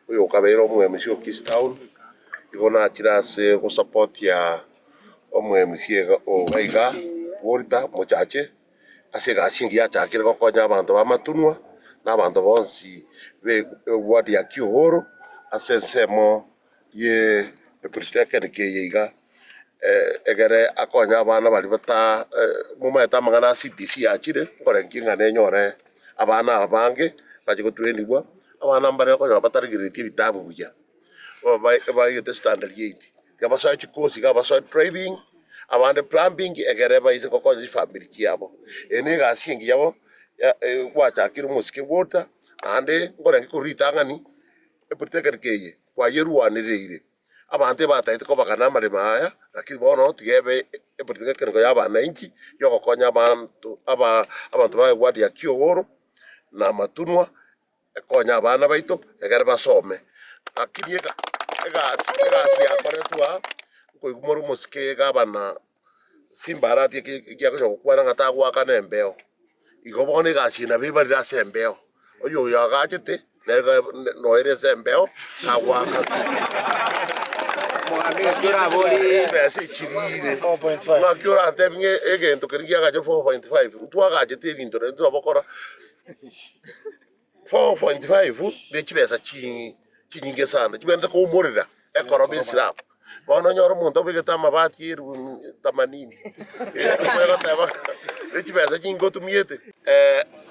Oyo okabeire omwemusi o Kiss Town, igo nachire ase gosapotia omwemusi iga oga iga Walter Mochache, ase egasi engiya achakire gokonya abanto b'amatunwa, na abanto bonsi be eward ya Kihoro, ase ensemo ye epritekenike eye iga. egere akonye abana baria bata momaete amang'ana a CBC achire nkorengereria ng'a nenyore abana aba bange bache gotrainigwa, abana mbare okonyora bataregereretie ebitabu buya, bono ba- baegete standard eight, tiga basoe chikosi iga basoe driving, abande plumbing egere baise gokonya chifamiri chiabo. Eye ne egasi engiya bono ya gwachakire omosike bwota, naende nkorengereria korwa ritang'ani, epolytechnic eye, kwayerwanereire. Abanto ebatagete kobaga namaremo aya, lakini bono tiga ebe epolitiki y'ekerengo y'abanainchi y'ogokonya abanto aba abanto ba ewadi ya Kiogoro na Matunwa ekonya abana baito egere basome. Lakini ega egasi egasi yakoretwe aa nkoigwa more omosike gabana simba aratie ki- ekiagocha gokwana ng'a tagoakana embeo. Igo bono egasi eye nabo ebarire ase embeo, oyo oyo agachete nere ga- n- noere ase embeo tagoakana. Ebesa echirire, ng'aki orantebi ng'a egento keria giagacha 4.5, ntwagachete ebinto naende twabokora. 4.5 Ne chibesa chinyinge sana chibwenerete koumorera ekoroba esirabu. Bono nonyore omonto obegete amabati elfu themanini omanye goteba ng'a ne chibesa chinyinge otumiete.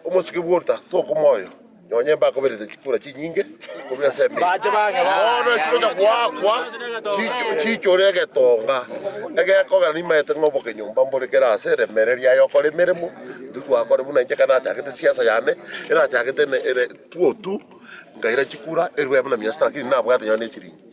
Omosike bw'oruta toka omoyo, nonya imbe akoberete chikura chinyinge korwa ense emeye. Bono chigocha goakwa chiichore egetonga egekogera nimaete ng'a oboke nyomba mbore kera ase eremereria yaye okore emeremo. Intwe twakora buna inche, ekero nachagete siasa yane, erachagete ere two two, nkaira chikura, erwe buna mia sita, lakini nabwate nonye ne esiringi.